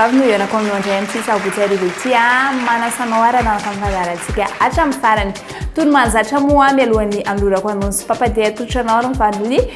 vavy no hianako aminao indray amin'ity sabotsy arivo ity a ah, manasa anao ary anaraka amin'ny fandaharantsika hatramin'ny farany tony mahazatra moa mialohan'ny anolorako anonsy papadia atolotra anao ary mivaliny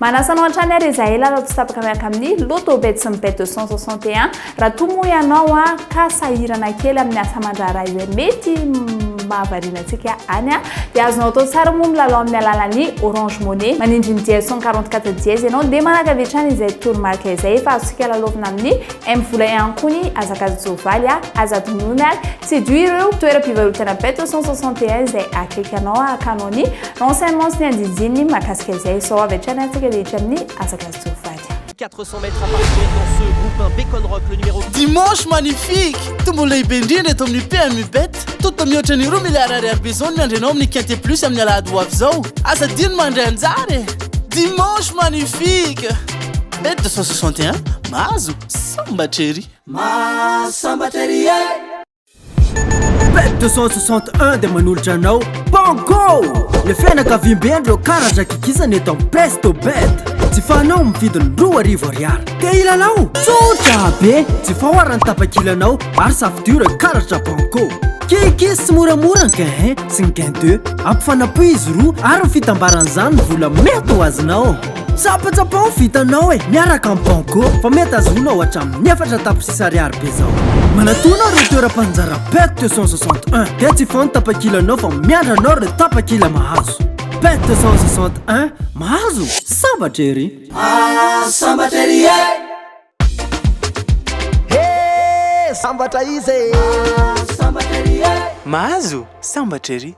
Manasa anao hatrany ary izahay lalao tsy tapaka miaraka amin'ny Lotobet sy ny Bet 261. Raha toa moa ianao ka sahirana kely amin'ny asa aman-draharaha izay mety mahavariana antsika any, dia azonao atao tsara moa milalao amin'ny alalan'ny Orange Money. Manindry ny dièse cent quarante quatre dièse ianao dia manakavy hatrany izay toromarika izay efa azontsika lalaovina amin'ny M-vola ihany koa ny hazakazan-tsoavaly, aza adinoina ary. Séduire ireo toeram-pivarotana Beto 161 izay akaiky anao hahakanao ny renseignements ny andinindininy mahakasika izay. Izao avy hatrany ary tsika rehetra amin'ny hazakazan-tsoavaly. 400 mètres à parcourir dans ce groupe 1 Bacon Rock le numéro Dimanche magnifique! Tombony lehibe indrindra eto amin'ny PMU Bet. Tonta mihoatra ny roa miliara ariary besoin ny andrianao amin'ny Quinte Plus amin'ny alahady ho avy izao. Aza adino ny mandray anjara e! Dimanche magnifique! Bet 261, mahazo sambatra ery! Mahasambatra ery eh! Pet 261 dia manolotra anao Banco! Le fianakaviamben reo karaza kikisana eto am Presto Bet. Jifanao amin'ny vidiny roa arivo ariary. Te hilalao? Tsotra be! Jifao ary ny tapakilanao ary safidio ireo karatra Banco. Kikis tsy moramora ny gain 1 sy ny gain 2. Ampifanapoy izy roa ary ny fitambaran'izany ny vola mety ho azonao. Tsapatsapa ho vitanao e, miaraka am banco fa mety azonao hatramin ny efatra tapitrisa ariary be zao. Manatona reo toeram-panjara pet 261 dia tsy foan tapakilanao fa miandra anao reo tapakila mahazo. Pet 261 mahazo? Sambatra ery. Aa sambatra ery e. He sambatra iza e. Aa sambatra ery e. Mahazo? Sambatra ery.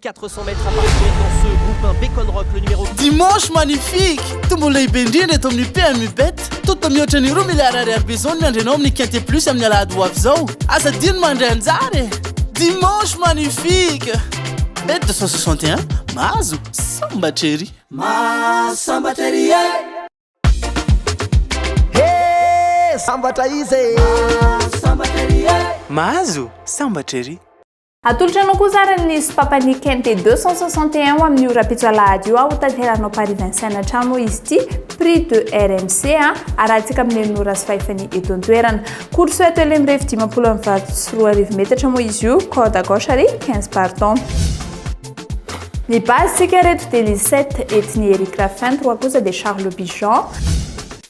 Quatre cents mètres à parcourir dans ce groupe un bacon rock le numéro Dimanche magnifique! Tombola lehibe indrindra eto amin'ny PMU Bet. Toto mihoatra ny roa miliara ariary besoin miandry anao amin'ny Quinte Plus amin'ny alahady ho avy izao. Aza adino mandray anjara e! Dimanche magnifique! Bet 261, mahazo sambatra ery! Mahazo sambatra ery e! He! Sambatra izy e! Mahazo sambatra ery e! Mahazo sambatra ery! Atolotra anao kosa ary ny sopapany KMT 261 ho amin'ny ora-pitso alahady io aho tanteranao Paris Vincennes hatrany moa izy ity prix de RMC a arahantsika amin'ny enina ora sy fahefany eto an-toerana course eto Elem Revy dimampolo amin'ny valo sy roa arivo metatra moa izy io corde à gauche ary 15 pardon ny base sika reto dia Lisette Ethnie Eric Raffin trois kosa dia Charles Bijan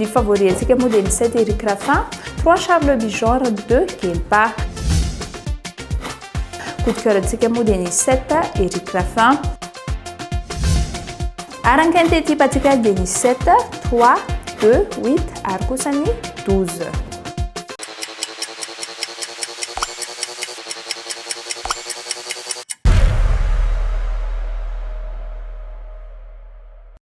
Ny favori antsika moa dia ny sept Eric Raffin, trois Charles Le Bihan ary ny deux Guelba. Coup de coeur antsika moa dia ny sept Eric Raffin. Ary ny quinte type antsika dia ny sept, trois, deux, huit ary kosa ny douze.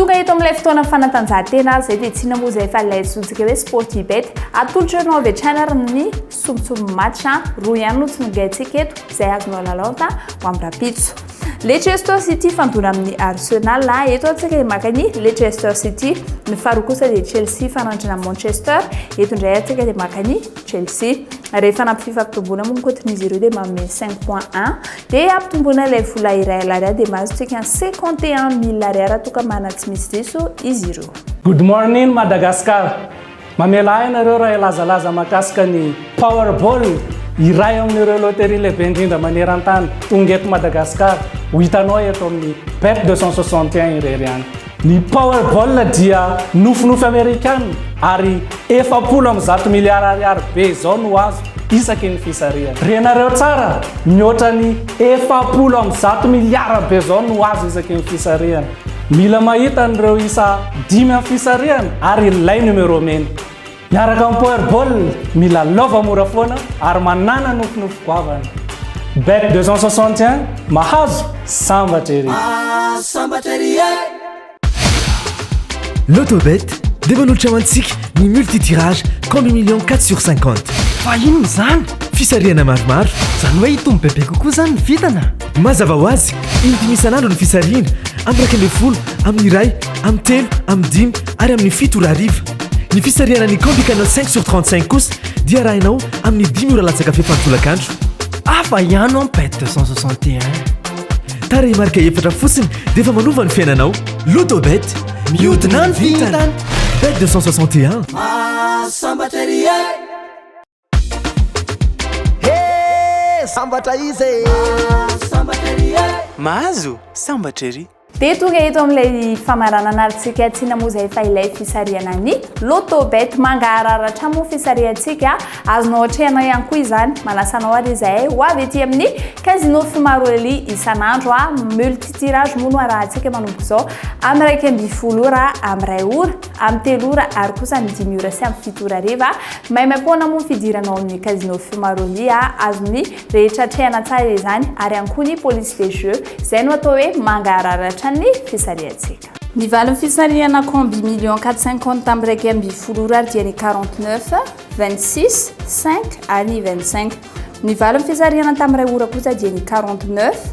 Tonga eto amin'ilay fotoana fanatanjahantena aza izay dia tsy inona moa izay fa ilay antsointsika hoe Sportibet. Atolotra anao avy hatrany ary ny sombintsombin'ny match roa ihany no tsinongaintsika eto izay azonao lalaonta ho amin'ny rahampitso. Leicester City fandona amin'ny Arsenal. Eto antsika maka ny Leicester City. Ny faharoa kosa dia Chelsea fanandrana Manchester. Eto indray antsika dia maka ny Chelsea. Rehefa nampififampitomboana moa ny cote-n'izy ireo dia manome 5.1. Dia ampitomboina ilay vola iray alarià dia mahazontsika ny cinquante et un mille ariara toka mana tsy misy diso izy ireo. Good morning Madagascar! Mamela ahy ianareo raha hilazalaza mahakasika ny Powerball, iray amin'ireo loterie lehibe indrindra maneran-tany, tonga eto Madagascar, ho hitanao eto amin'ny Bet deux cent soixante et un irery ihany. Ny Powerball dia nofinofy Amerikana ary efapolo amby zato miliara ariary be izao no azo isaky ny fisarihana. Renareo tsara, mihoatra ny efapolo amby zato miliara be izao no azo isaky ny fisarihana. Mila mahita an'ireo isa dimy amin'ny fisarihana ary ilay numéro mena. Miaraka amin'ny Power Ball, mila lova mora foana ary manana nofinofy goavana. Bet 261, mahazo, sambatra ery! Mahazo, sambatra ery e! Lotobet dia manolotra ho antsika ny multi-tirage combi millions quatre sur cinquante. Fa inona izany? Fisarihana maromaro. Izany hoe hitombo bebe kokoa izany ny vintana? Mazava ho azy, in-dimy isan'andro ny fisarihina, amin'ny iraika ambin'ny folo, amin'ny iray, amin'ny telo, amin'ny dimy ary amin'ny fito ora hariva. Ny fisarihana ny Combi Canal 5 sur 35 kosa dia arahina ao amin'ny dimy ora latsaka fefany tolakandro. Hafa ihany an Pet 261. Tarehimarika efatra fotsiny dia efa manova ny fiainanao. Lotobet, mihodina ny vintana. Bet 261. Mahasambatra ery e! Hee sambatra izy e! Mahazo sambatra ery e! Mahazo sambatra ery! Dia tonga eto amin'ilay famaranana alintsika tsy inona moa izay fa ilay fisarihana ny Loto Bet. Mangaharara hatrany moa fisarihantsika. Azonao atrehina ihany koa izany. Manasa anao ary izahay ho avy ety amin'ny Casino Fimaroleli isan'andro. Multi-tirage moa no arahantsika manomboka izao amin'ny iraika ambin'ny folo ora amin'ny iray ora. amin'ny telo ora ary kosa amin'ny dimy ora sy amin'ny fito ora hariva. Maimaimpoana moa ny fidirana ao amin'ny Casino Fumaroli a, azon'ny rehetra atrehana tsara izany, ary ihany koa ny police des jeux, izay no atao hoe mangararatra ny fisarihantsika. Ny valin'ny fisarihana combi million quatre cinquante tamin'ny iraika ambin'ny folo ora ary dia ny quarante neuf, vingt six, cinq ary ny vingt cinq. Ny valin'ny fisarihana tamin'ny iray ora kosa dia ny quarante neuf,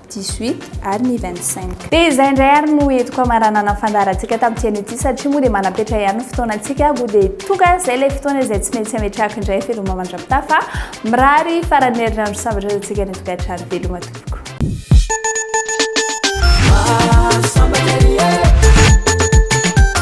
18 ary ny 25. Dia izay indray ary no entiko hamaranana ny fandaharantsika tamin'ity anio ity satria moa dia manam-petra ihany ny fotoanantsika koa dia tonga izay ilay fotoana izay tsy maintsy hametrahako indray veloma mandra-pitaha fa mirary faran'ny herinandro sambatra antsika ny tokantrano veloma tompoko.